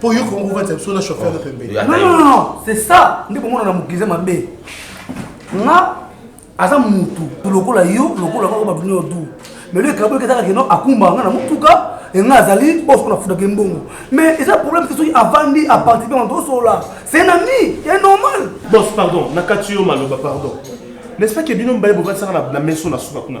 po yo kongo ovanisa biso na chauffeur na pembeni non non non c'est ça nde komona na mokilize mabe nga aza mutu lokola yo lokola kaka bato nyo du mais le ekabo eketaka keno akumba nga na motuka enga azali bosoko na futaka mbongo mais eza problème te soki avandi apartipe na tosolola c'est un ami ya normal bos pardon nakati yo maloba pardon n'est ce pas ke bino mibale bovandisaka na meso na suka kuna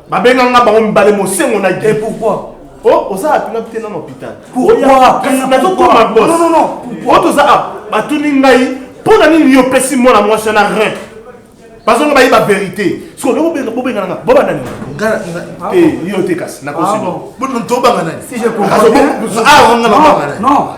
Babenga nga bango mibale mosengo na Guy. Et pourquoi? Oh, oza app na pite na hôpital. Pourquoi? Nazo koma boss. Non non non. Pourquoi toza app? Batuni ngai mpo na nini yo pesi mwana mwasi wana rien? Bazonga bayi ba vérité. Siko loko benga bo benga nga. Bo banda nini? Nga te yo te kasi na kosi. Bo non to banga nani? Si je comprends. Ah, on nga ba banga nani? Non.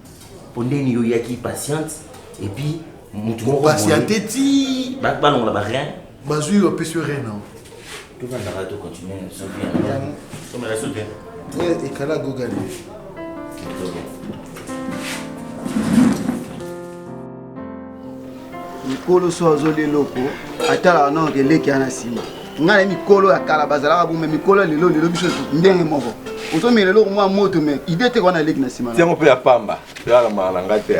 po ndeni yo yaki patiente et puis mutu moko patiente ti ba ba longola ba rien bazui yo pe sur rien non tout va ndara to continuer so bien comme la soute eh ekala gogani mikolo so azoli eloko atalaka nao keleki ya na nsima ngai na mikolo ya kala bazalaka bome mikolo ya lelo lelo biso ndenge moko ozomela eloko mwa moto me ide te wana eleki na nsima yango mpe ya pamba elalamaaka na ngai te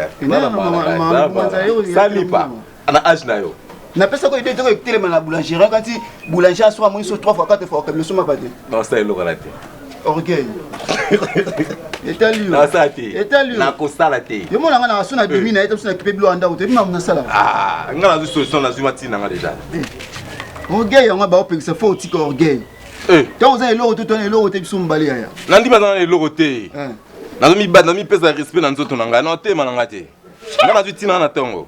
salipa na age na yo Na pesa ko idée toko etelema na boulanger hein, kati boulanger aswa moni so 3 fois 4 fois comme soma pas te. Non ça eloka la te. Orgueil. etali yo asala te etali yo nakosala te yo mona nga na so na bimi na ye to so na kipe bilo anda ko te bima mona sala ah nga na zo solution na zuma tina nga déjà orgueil yango ba opekisa fo otika orgueil eh to oza eloko to to na eloko te biso mbali yaya na ndima na eloko te eh. nazo mibata na mipesa respect na nzoto na ngai na otema na ngai te nga nazwi ntina na ntongo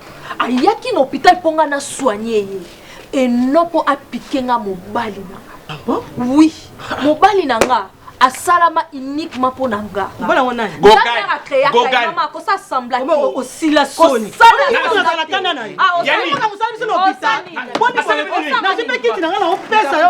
ayaki na hôpital mpo nga na soigne ye et non mpo apike nga mobali na nga ah bon? oui mobali na nga asalama uniquement mpo na nga mobali yango nani gogana créa mama ko ça semble que o sila soni ko sala na kana na ye yani ko sala biso na hôpital boni ko na zipeki tina nga na opesa yo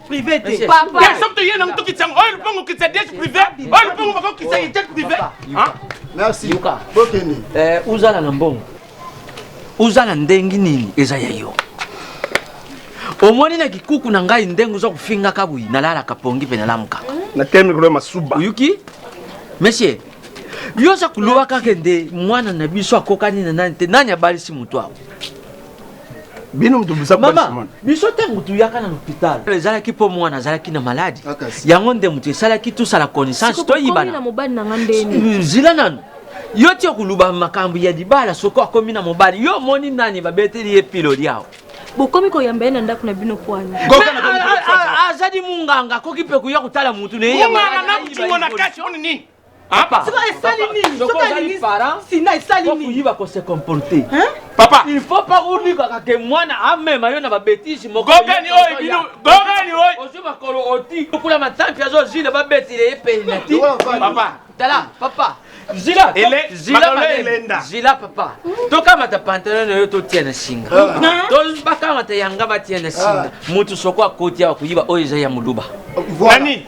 privé te ya soki toye nango tokitisa yango oyo lupango okitisa diete privé oyo lupango bako okitisa ye diete privé merci yoka bokende eh, ozala na mbongo ozala ndenge nini eza ya yo omoni na kikuku na ngai ndenge oza kofingaka boyi nalalaka pongi mpe nalamukaka na tel mikolo ya masuba oyoki monsieur yo oza koloba kaka nde mwana na biso akokani na nani te nani abalisi moto awa bino moto mama biso ntango toyaka na lopital ezalaki mpo mwana azalaki na maladi ah, yango nde moto esalaki tosala connaissance toyibana zila nanu yo ti okoluba makambo ya libala soko akomi na mobali yo omoni nani babeteli ye piloli awa bokomi koyamba ye na ndako na bino pwani azali munganga akoki mpe koya kotala motu na ye Papa. Siko esali nini? Siko alingi sina esali nini? Kuyiba ko se comporter. Hein? Papa. Il faut pas unika ka ke mwana amema yo na ba bêtises moko. Gogani oyo bino. Gogani oyo. Ozo makolo oti. Kula matampi azo zile ba betile epenati. Papa. Tala papa. Zila. Ele zila elenda. Zila papa. Tokamata pantalon oyo totia na singa. Ah. Tozo bakamata yanga batia na singa. Ah. Mutu soko akoti awa kuyiba oyo eza ya muluba. Nani?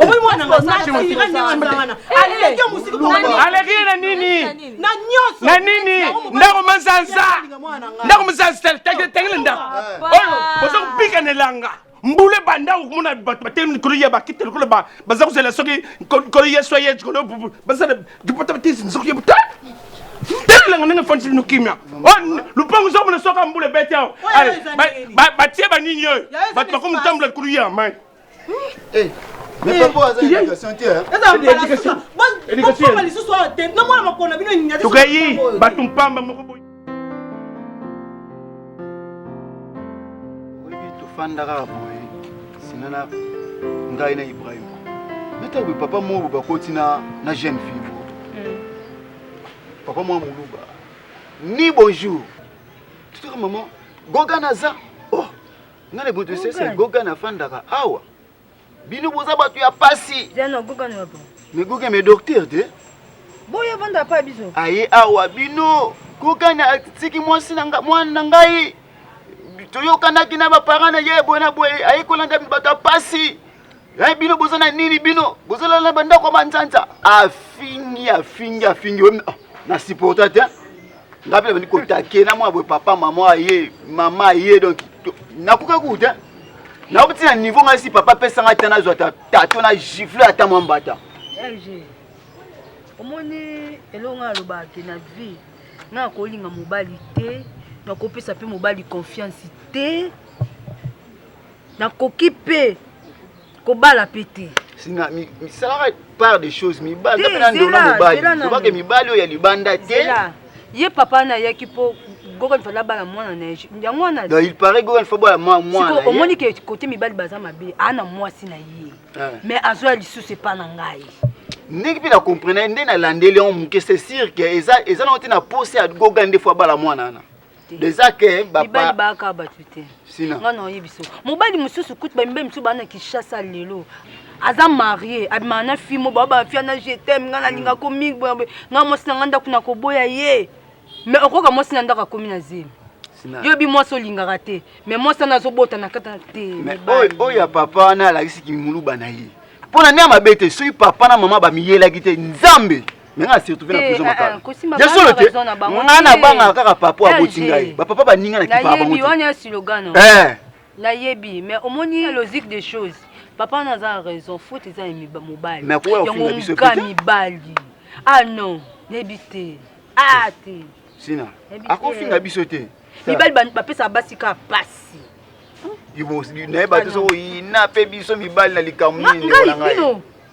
omoni mwana alekile na nini na nini ndako manzanza ndako manzanza tangile ndako oyo boza kobika na elanga mbula ebanda okomona bato batelemi likolo ya bakite lokola baza kozela soki kolo yesu aye likolo basala dipota batisi nzoki yebuta telelanga ndenge efandisi bino kimia lupango ezokomona soki mbula ebeti awa batie banini oyo bato bakomi kotambola likolo ya mai tokeyi bato mpamba moko boye oyebi tofandaka boye sina na ngai na ibrahima neta boye papa moko bakoti na na jeune fille moko hmm. papa mwa moluba ni bonjour totaka mama goga naza oh nga na butu sese goga nafandaka awa bino boza bato ya pasi megoga me docteur te boye banda pa biso aye awa bino goga na atiki mwasi mwana na ngai toyokanaki na baparent na ye boye na boye aye kolanda bato ya pasi Eh, bino boza na nini bino bozala na bandako ya manzanza afingi afingi afingi ah, na supporta te ngai mpe nabandi kotake na mwana boye papa mama aye mama aye donc nakoka kuku te nakoki ntina niveau ngai si papa apesa ngai te nazwa tato na gifle ata mwa mbata omoni elongo alobaki na vie ngai akolinga mobali te nakopesa mpe mobali confiance te nakoki mpe kobala mpe te misalaka part des choses mibali mpe na ndona mobali obake mibali oyo ya libanda te ye papa wana ayaki mpo gogol fala bala mwana na yango wana donc il paraît gogol fo bala mwana omoni ke kote mibali baza mabe ana mwasi na ye ah. mais azwa lisusu epa na ngai ndenge mpe na comprena ye nde nalandeli yango moke c'est sûr ke eza nango te na posa ya goga nde fo abala mwana wana eza ke mibali baaka bato te nga na oyebi so mobali mosusu kutu bamibali mosusu baa na kinshasa lelo aza marie abimaka na fi mo babafia na jetem nga nalinga ko mingi boye nga mwasi na nga ndako na koboya ye mais okoka mwasi na ndako akomi na zemi yo bi mwasi olingaka te mais mwasi wana azobota na kata te oyo ya papa wana alakisi kimuluba na ye mpo na nde ya mabe te soki papa na mama bamiyelaki te nzambe me nga se retrouve na prison makala ya solo te nga na bangaka kaka papa oyo aboti ngai bapapa baninga na kipaka bango te eh. nayebi mais omoni logique des choses papa wana aza raison faute eza ya mobali yango nga mibali ah non nayebi te ah te sina akofinga biso te mibali bapesaka basi kaka pasi naye bato sokoyina mpe biso mibali na likambo nini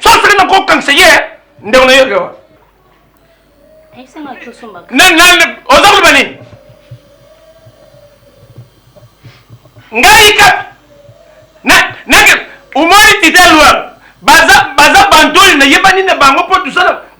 Sosaka na ko kangisa ye ndeko na yoka wa. Ayisanga tosomba. Na na oza koloba nini? Ngai ka na na omoni tite lwa baza baza bantoli na yebani na bango mpo tosala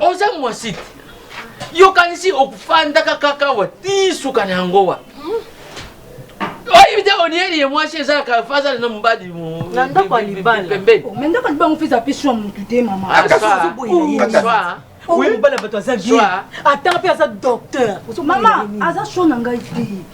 oza mwasi te yokanisi okufandaka kaka wa ti suka na yango wa oyebi te onieli ye mwasi ezalaka fazala na mobali na ndako ya libala pembeni oh, me ndako ya libala ngo feza pe swa motu te mama ah, oyebi mobali ya bato aza vie ata mpe aza docteur mama aza sho na ngai te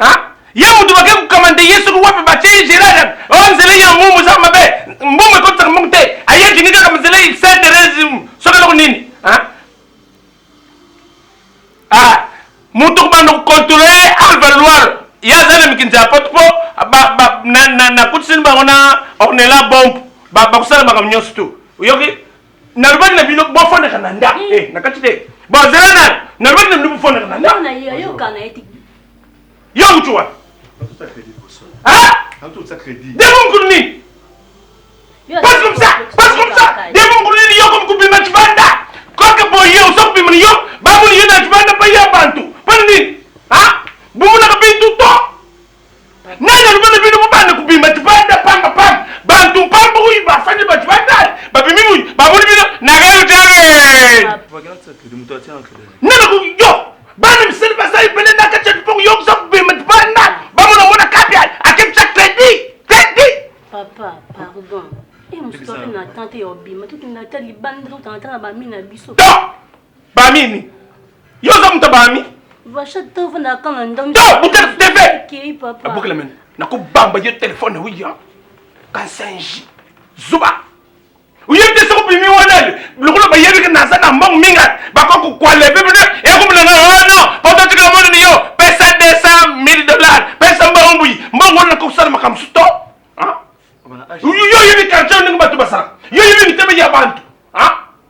Hein? Ye mutu bake kokamande ye soki wapi batie ye Gerard o oh, nzela ya mbumu eza mabe mbumu ekotisaka mbumu te aye alingi kaka nzela Saint Therese soki eloko nini hein? Ah, mutu kobanda kokontrole Alva Loire ye aza na mikinzi ya pote mpo nakutisini bango na ornela bombe bakosala makambo nyonso tu oyoki nalobaki na bino bofandaka na ndako mm. eh, na kati te bazela na nalobaki na bino bofandaka na ndako yo uti wapi demo mokulu nini pasi komisa pasi komisa demo mokulu nini yo komikobima cibanda kaka boye oza kobima na yo bamoni yo na cibanda pa ya bantu mpona nini bomonaka bintu to nani alobi na bino bobanda kobima tibanda pamba pamba bantu mpamba oyo bafandi bato batali babimi mui baboli bino nagautare yo bana misali basali pene na kati ya lipongo yo oza kobima tibanda bamona mona kapi akebisa kredi kredi papa pardon e mosusu ape na tante ya obima tokenda ata libanda tokotanga ata na bami na biso Ba nini? Yo oza moto ba ami? Vacha to vanda kama ndomi. To buka TV. Kiri papa. Buka lemeni. Na ko bamba yo téléphone oui hein. Kansenji. Zuba. Oyebi te soko bimi wana le. Lokola bayebi ke naza na mbongo mingi bako ko kwa leve bino e ko bilanga oh non poto tika mwana ni yo pesa 200 000 dollars pesa mbongo mbuyi mbongo wana ko sala makambo suto. Hein? Yo yebi quartier ndenge bato basala. Yo yebi mitema ya bantu. Hein?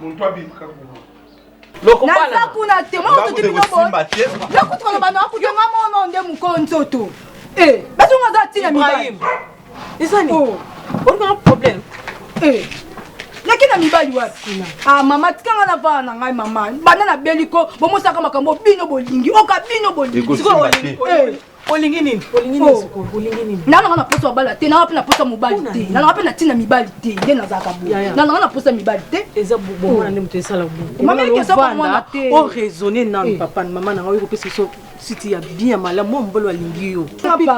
Muntu abimaka kuma. Lokumbana. Naza kuna te, mwa otoki bino boye. Lokutu koloba na okutu nga mono nde mukolo nzoto. Eh, basi nga za tina mibali. Ibrahim. Isani. Oh. Ori nga problème. Eh. Naki na mibali wapi kuna? Ah mama tika nga na bana na ngai mama. Bana na beliko bomosaka makambo bino bolingi. Oka bino bolingi. Siko olingi. Eh. olingi nini olingi nini oh. sikoyo olingi nini nana nga na posa bala te nana pe na posa mobali te nana pe na tina mibali te nde nazalaka bo nana nga na posa mibali te eza bomona oh. nde moto esala bomamekesabomwana o oh, raisonne nanu eh. papa na mama na nga oyo kopesa biso siti ya bien malamu mwa mobali alingi yo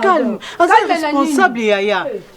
calme aza responsable yaya eh.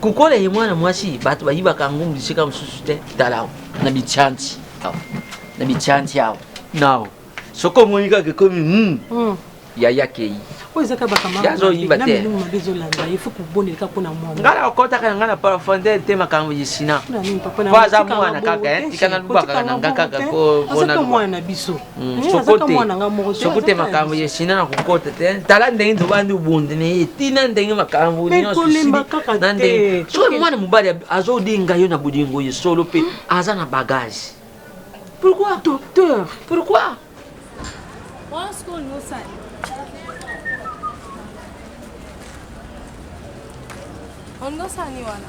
Kukole ye mwana mwasi bato bayibaka ngumbu bisika mosusu te tala awa na bitianti awa na bitianti awa nao soki omoni kaka ekomi mm. mm. yaya kei oyo ezaka bakamaazoyiba te ngai nakokotaka na ngai na profondeur te makambo ya sina po aza mwana kaka eh, tika nalubaka na ngai kaka mpona mwana na biso Mm, eh, sokote makambo ya china na kokota te tala ndenge tobandi obundi na ye tina ndenge makambo nyonsona ndenge soki mwana mobali azodinga yo na bolingo ye solo mpe hmm? aza na bagage pourquoi docteur pourquoi ondosani wana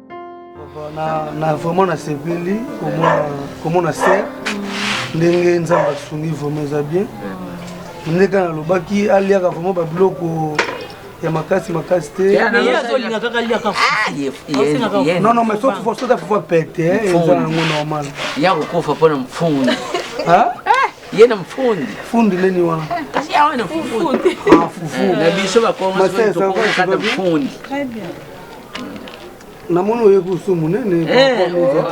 na, na vraiment nasepeli komona komona ser ndenge nzambe asungi vraiment eza bien nde kaka nalobaki aliaka vraiment babiloko ya makasi makasi te non non mais soki fo soki afufa pete eza nango normal ya kokufa mpo na mfundi ye na mfundi fundi leni wana kasi awa na fufu na biso bakongo mfundi namoni oye kusu monene eh, oh.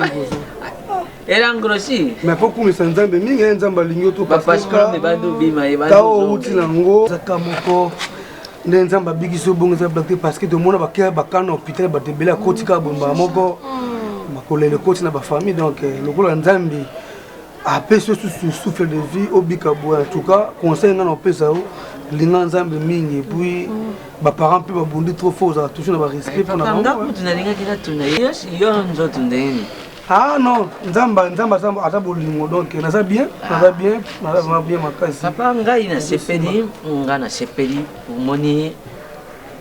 elangrosi mais po kumisa nzambe mingi ye eh, nzambe alingi otopasitao outi na yango zaka moko nde nzambe abikisi obongo eza blate parce que tomona bakea bakana hôpital bato ebele akotika bombaa moko mm. makolela ekoti na bafamille donc eh, lokola nzambe apesi yo susu souffle de vie obika boye en tout cas conseil ngai naopesa yo linga nzambe mingi epuis baparent mpe babundi trop fort ozala toujours na barespect mpona bangokutu nalingaki natuna yo nzoto ndenge ah non nzambe nzambe aza bolingo donc naza bien naza bien naza bien makasi papa ngai nasepeli ngai nasepeli omoni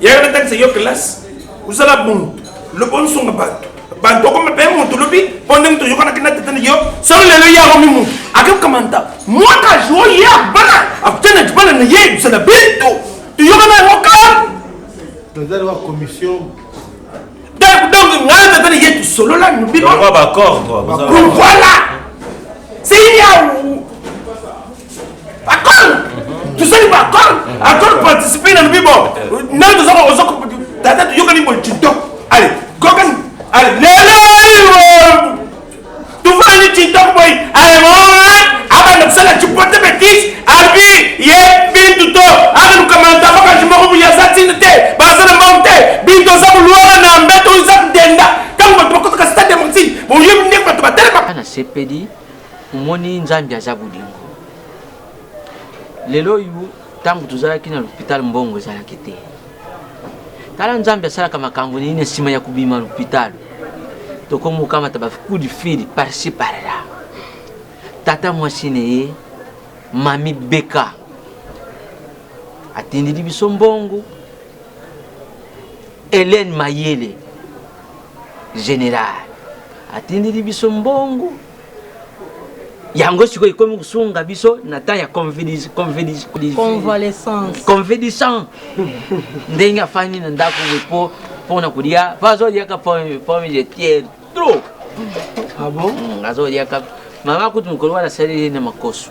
yaka natangisa yo kelasi ozala bongo loba onsonga bato bato okoma mpe moto lobi mpo ndenge toyokanaki na tete na yo solo lelo ye akomi moto akekamanta mwaka jour ye abana akutana libala na ye ozala bintu toyokana yango kala tozali wa commission donc donc ngai tata na ye tosolola nobino voilà c'est yawu Akol tosali ba akol akol participer na lobi bon nani toza oza tata toyokani boye tiktok ale kokani ale lelo tofandi tiktok boye ale abanda kosala cipote betise abi ye bintu to akalukamanta bakanji moko boye aza ntina te baza na mbango te bintu aza koluaka na mbeto oza kudenda ntango bato bakotaka stade ya montine boyebi ndenge bato batelema nasepeli omoni nzambi aza bolingo lelo oyo ntango tozalaki na lopital mbongo ezalaki te tala nzambi asalaka makambo nini nsima ya kobima lopital tokomi kokamata bacout du fil parci parla tata mwasi na ye mami beka atindeli biso mbongo helene mayele général atindeli biso mbongo yango sikoyo ekomi kosunga biso na temps ya convalescence ndenge afandi na ndako po mpona kolia po azoliaka pomme de terre trop ah azoliaka mama kutu mokolo wana asaleli na makoso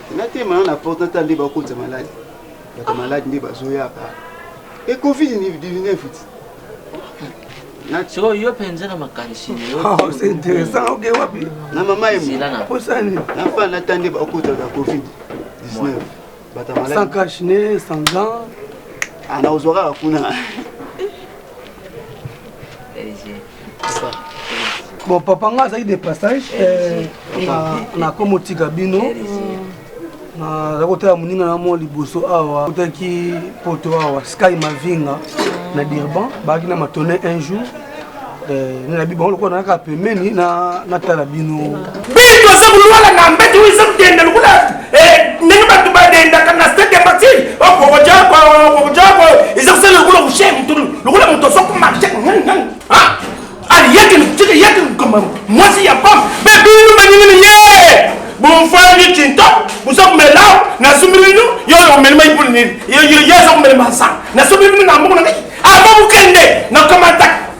natema na na porte natala nde bakotisa maladi bato maladi nde bazoyaka e covid 19 ti sikoyo yo mpenza na makanisi na mama yeposani nafa nata nde bakotaka covid 19 bato maladi sans cache ne sans gant ana ah, ozwaka kuna bon papa nga azalaki de passage eh, na komotika bino naza kotala moninga na mwa liboso awa kotaki poto awa sky mavinga na dirban baaki na matone un jour eh, nabi bango lokola nayaka pembeni natala bino bitu aza kolwala na mbeti oyo eza kudenda lokola eh, ndenge bato badendaka na stade ya matiri okokojako okokojako eza kosala lokola kushe motu lokola moto asoko marche aliyaki tika yaki kama mwasi ya pam be binu banyinini ye bofandi cinta boza komela nasombi bino yo omeli mai mpona nini ye aza komela masanga nasombi bino na mboko na ngai aba mokende nakamata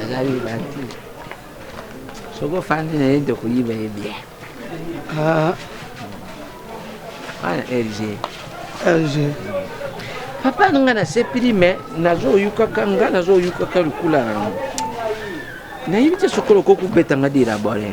azayiba te soki ofandi na ye nde koyiba ye bien ah. wana rg rg papa na ngai nasepeli me nazoyukaka ngai nazoyukaka lokula yango nayebi te soki oloko kobeta ngai delabore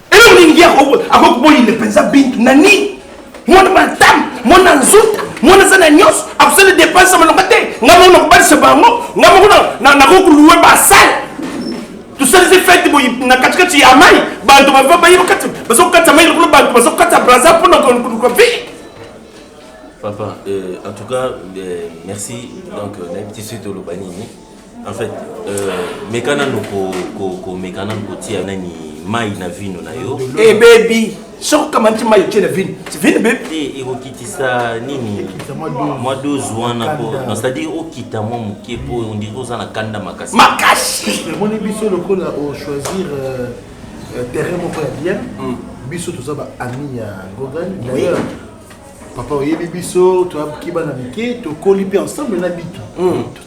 Eloko nini ye akoki koboyinde mpenza Bintu na nini? Mwana bantam, mwana nzuta, mwana aza na nyonso, akosala depense ya malonga te. Ngai moko nakobalisa bango, ngai moko nakoki koluwe basale tosalisi fete boye na katikati ya mai bato bava baye bakati baza kokata mai lokola bato baza kokata braza mpona koluka vie Papa, euh, en tout cas, euh, merci. Donc, euh, on a un petit suite au Lobanini. En fait, euh, meka nanu ko ko ko meka nanu kotia nani mai na vino na yo. Ebebi. Eh, soko kama nti mai otie na vino vino be te ekokitisa nini mwa dose wana po non c'est-à-dire okita mwa moke po ondiri oza na kanda makasi makasi omoni biso lokola ochoisir euh, euh, terrain moko ya bien hmm. biso toza baami ya gogan d'ailleurs papa oyebi biso toyaki bana mike tokoli mpe ensemble na bitu hmm.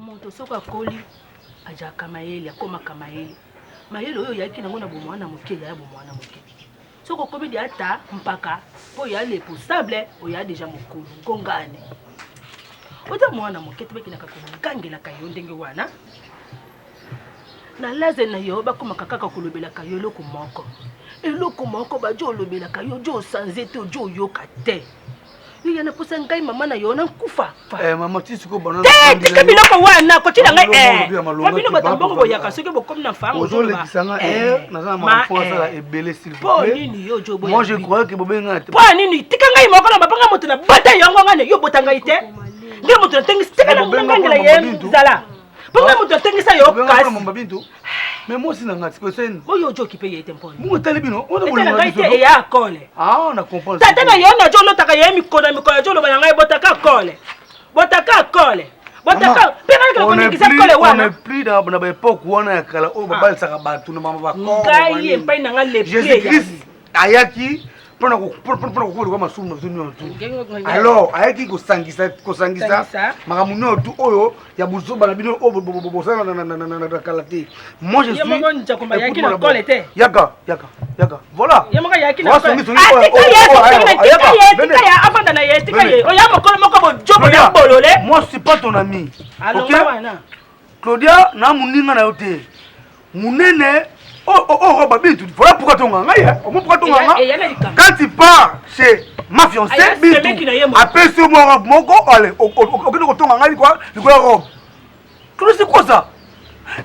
moto soko akoli ajaka mayele akomaka mayele mayele oyo oyaki nango na bomwana moke yaya bomwana moke soki okomi de ata mpaka mpo ya leposable oya deja mokolo ngongani oza mwana moke te bakendaka kogangelaka yo ndenge wana na laze na yo bakomaka kaka kolobelaka yo eloko moko eloko moko bajo olobelaka yo jo osanze te ojo oyoka te yo yana posa ngai mama na yo na nkufa eh, mama ti siko bana te tika biloko wana koti na ngai eh wa bino bato mbongo boyaka soki bokomi na fango ozolekisa nga eh, eh naza na mafo asala eh. ebele s'il vous plaît po nini yo jo boya moi je croyais que bobenga nga te po nini tika ngai moko na babanga moto na bata yango ngane yo bota ngai te ngai moto na tengi tika na ngangela ye zala Mpo mpe moto atengisa yo kasi. Mama Bintu, me mwasi na ngai sikoyo seni. Oyo ojo kipe ye te mpona. Mungu tali bino, ona bolo na biso. Etala ya kole. Ah, na comprendre. Tata na yo na jo lotaka ye mikolo na mikolo jo loba na ngai botaka kole. Botaka kole. Botaka mpe ngai kala koningisa kole wana. On est plus dans na ba époque wana ya kala oyo babalisaka bato na mama ba kole. Ngai epai na ngai le pied. Jésus Christ ayaki mpona kokoleka masumu na biso nyonso tu alors ayaki kosangisa kosangisa makambo nyonso tu oyo ya bozoba na bino oyo bosala na kala te moi je suis yaka yaka yaka voilà afanda na ye tika ye oya mokolo moko bojobo ya bolole moi je suis pas ton ami alors okay? Claudia na muninga na yo te munene oh oh oh, oh Bintu voilà pourquoi tonga ngai hein au moins pourquoi tonga Eya- ngai eya na likambo. quand tu pars chez ma fiancée Aya, Bintu semeki na ye moko. apesi yo mwa robe moko allez o- o- o- okende kotonga ngai likwa likwa robe Claudia c'est quoi ça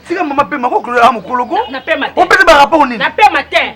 tika mama pema ko Claudia ah mokolo ko Na pema te. opesa ba rapport nini Na pema te.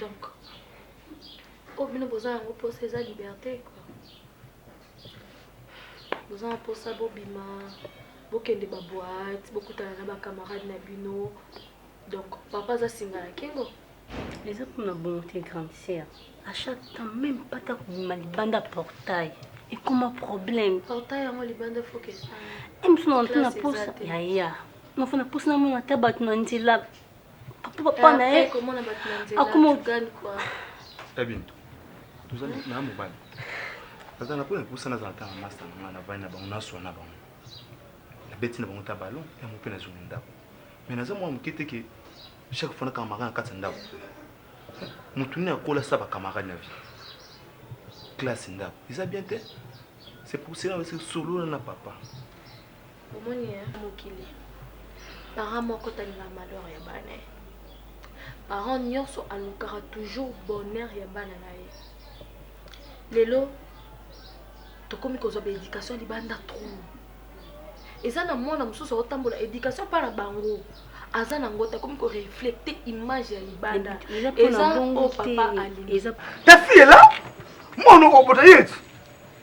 Donc, oyo bino boza yango mposa eza liberte quoi. Boza na mposa bobima, bokende ba boîte, bokutana na ba camarade na bino. Donc, papa aza singa na kingo. Eza mpo na bongo te grande sœur. À chaque temps même pas ta kobima libanda portail. Ekoma problème. Portail yango libanda faut que. Emisuna na mposa ya ya. Nafana mposa na mona ata bato na nzela. papa na ye akoma ogali kwa ebintu tozali na mobali azala mpo napusana azala kaka masta na ngai navandi na bango naswa na bango nabeti na bango ta balon yango mpe nazongi ndako mai naza mwana moke te ke chaque fois nakamarade na kati ya ndako motu nini akola sa bakamarade na vie classe ndako eza bien te c'est pour cela solola na papa Omoni hein mokili parent moko atalelaka malheur ya bana ye parent nionso alukaka toujours bonheur ya bana na ye lelo tokomi kozwa ba education libanda trop eza na mwana mosusu aotambola education mpa na bango aza na yango te akomi koreflecte image ya libanda eza oyo papa alingi ta fille est là mwana okobota ye ti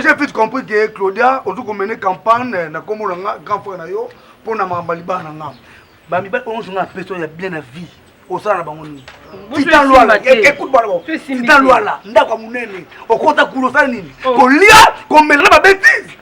j'ai vite compris que claudia ozo komene campagne eh, na kombo na nga grand frère na yo mpo na makambo ya libala na nga bamibali oyo nyonso nga apesa ya bien na vie osala na bango nini tita lwala ekute bana bango tita lwala ndako ya monene okota kuna osala nini oh. kolia komela na babetise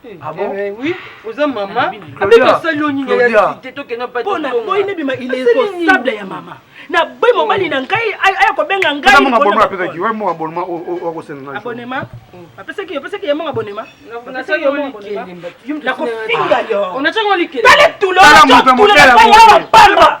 Ah bon? Eh, oui, oza mama abe tosali yo nini ya site tokenda pa pona boyi nebima il est responsable ya mama na boyi mobali na ngai aya kobenga ngai mama bonma apesaki wa mama bonma okosenga ngai abonema apesaki opesaki ya mama bonema nasaki yo likende na kofinga yo onachaka likende tala tulo tala moto ya motela pamba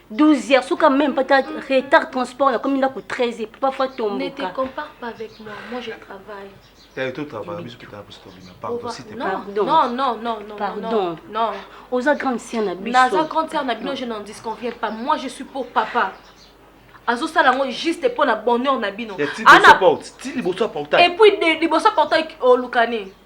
12 heures soka même pas retard transport nakomi ndako 13 heures papa fa tomboka ne te compare pas avec moi moi je travaille eh, tout travail biso kitala biso tobima pardon si te pardon non non non non pardon non oza grande sœur na biso naza grande sœur na bino je n'en disconviens pas moi je suis pour papa azosala yango juste mpo na bonheur na bino ti liboso ya portail epuis liboso ya portail olukani oh,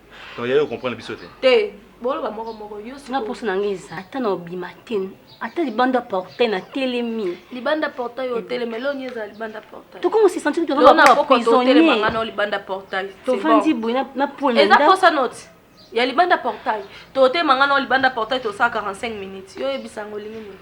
Donc yayo comprendre biso te. Te, boloba moko moko yo sikoyo. Nga posa na nga eza ata na obima te, ata libanda portail na telemi. Libanda portail yo telemi, leo ni eza libanda portail. Toko mo se sentir que vraiment ba prisonnier. Leo na nga na libanda portail. To fandi boy na na pole na. Eza posa note. Ya libanda portail. To telema nga na libanda portail to sa 45 minutes. Yo yebisa ngo lingi nini.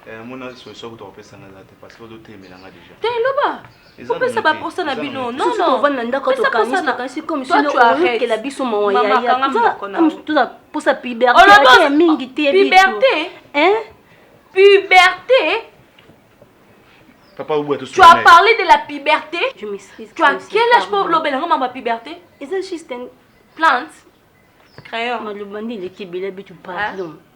Eh, mona solution kutu kopesa nga eza te parce que ozo telemela nga déjà. Te loba. kopesa baposa na bino nontovanda ndako tokanisi comme sino oyokela biso mawa yayatoza posa piberte mingi te piberte piberte Papa Oubou, tu as parlé de la puberté. Je m'excuse. Tu as quel âge pour l'obéler à ma puberté C'est juste une plante. Crayon. Malobandi, il est qui bébé, tu parles.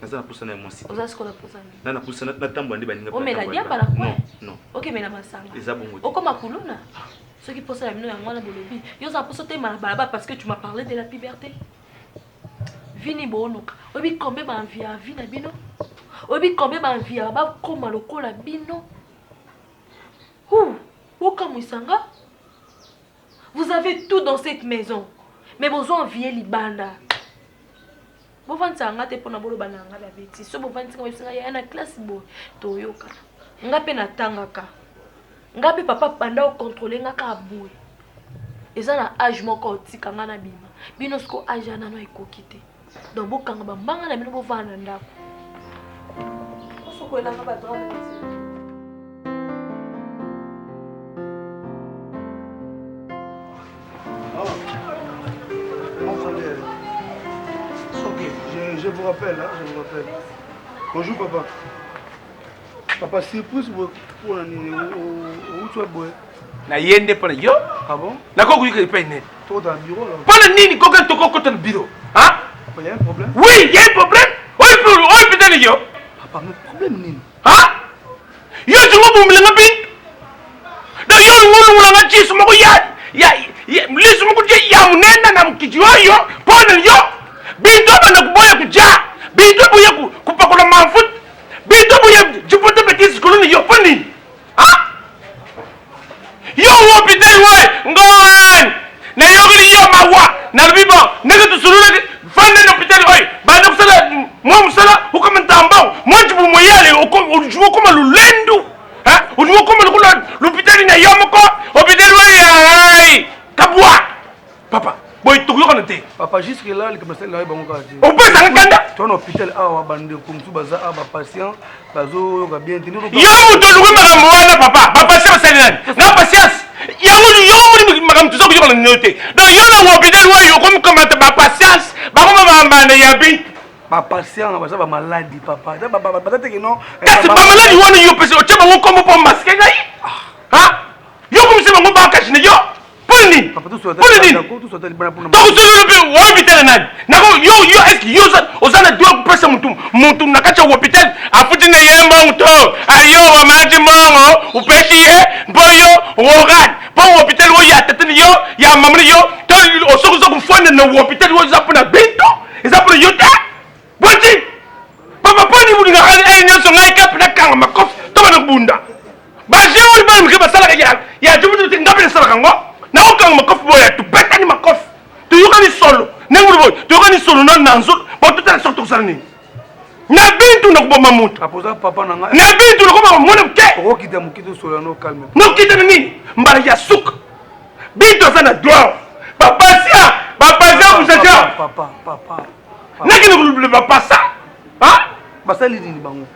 naza na posa na ya mwasi oza sikola posa na na posa na tambola nde baninga omela diamba na coin non okemela masanga eza bongo okoma kuluna ah. soki posa na bino yango wana bolobi yo oza posa otema na balabala parce que tu m'as parlé de la puberté vini booluka oyebi combien baenvi ya vi na bino oyebi combien baenvi ya bakoma lokola bino hu bokamwisa nga Vous avez tout dans cette maison mais bozo envier libanda. Bovandisaka nga te pona boloba na nga ba betise. So bovandisi nga bebisa nga yaya na classe boye toyokana. Nga mpe natangaka. Nga mpe papa banda okontrole nga kaka boye. Eza na age moko otika nga na bima. Bino siko age ya nano ekoki te. Donc bokanga ba mbanga na bino bovanda na ndako. Osokolelanga ba droit je vous rappelle, hein, je vous rappelle. Bonjour papa. Papa surprise boye pona nini outi wa boye? Na ye nde pona yo. Ah bon? Na ko kuika epai nene. Toko ta bureau alors. Pona nini koka toko kota na bureau? Hein? Papa, y a un problème? Oui, il y a un problème. Oyo pour oyo pita ni yo. Papa, mais problème nini? Hein? Yo tu ngo bombela nga bin. Da yo ngo lungula nga chisu moko ya ya lisu moko je ya munene na mkiji oyo pona yo. Bintu abana kuboya kuja. Bintu boya kupakola mafuta. Bito boye jipote betise koloni yo mpo nini? Ah? Yo wopi te we ngoan nayokeli yo mawa nalobi bon ndenge tosololaki vanda na hôpital oyo banda kosala mwa mosala okoma ntambao mwa jibu moyale oluki okoma lulendu oluki okoma lokola lopitali na yo moko hôpital oyo ai kabwa papa boye tokoyokana te papa jusque là likambo nasali nayo bango kaka te opesaka kanda to na hôpital awa bandeko mosusu baza awa bapatient bazoyoka bien te yo moto oluki makambo wana papa bapatient basali nani na patience yango yo omoni makambo toza koyokana nino te donc yo na hôpital oyo okomi komata bapatience bango bamambanda ya bi bapatient baza bamaladi papa baza teke non eh, kasi bamaladi wana yo pesi otye bango nkombo mpo maske ngai ah. yo komisa bango bakashine yo mpona nini mpona nini tokosololo mpe wa hôpital ya nani nako yo yo eske yo oza na droit kopesa motu motu na kati ya hôpital afuti na ye mbongo to ayo omati mbongo opesi ye mpo yo organe mpo hôpital oyo ya tatani yo ya mamani yo to osoki oza kofanda na hôpital oyo eza mpona binto eza mpona yo te Boti! Papa Pony mulingaka kaka eye nyonso ngai kape nakanga makofi to bana kobunda. Baje oyo bana mike basalaka ya ya jobutu te ngai mpe nasalaka yango. Nakokanga makofi boya tobetani makofi. Toyokani solo. Ndenge mulu boye toyokani solo na nanzo po totala soki tokosala nini. Na bintu nakoboma moto. Apoza papa na ngai. Na bintu nakoboma mwana moke. Okokita moke tosolola no calme. Nokita na nini? Mbala ya suka. Bintu aza na droit. Bapasia, bapasia kusaja. Papa, papa. nakende kolobela bapasa basali nini bango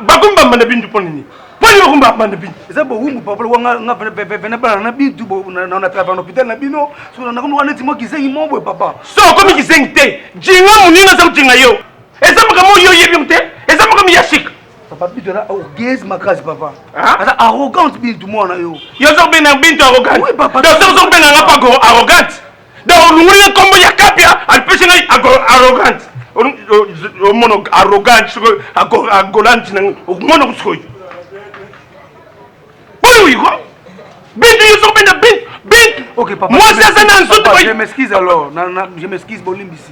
bakomi bambanda bintu mpo nini mpo nini bakomi bambanda bintu eza bowumbu papa lokola nga nga vena- vena- vena bana na bintu bo- na- na na travail na hôpital na bino so na- nakomi wana neti mwa kizengi moko boye papa so okomi kizengi te jinga moninga aza kojinga yo eza makambo oyo oyebi yango te eza makambo ya sika papa bintu aza orgueuse makasi papa Ah. aza arrogante bintu mwana yo yo oza kobenga bintu arrogante Oui, papa. donc soki oza kobenga nga mpako arrogante Donc olongoli nga kombo ya kapia alipesi ngai arrogante omono arrogante soki agolante na ngai omonoko sikoyo oyo iko bintu yo soki benda bintu bintu mwasi aza na nzoto je m'excuse alors je m'excuse bolimbisi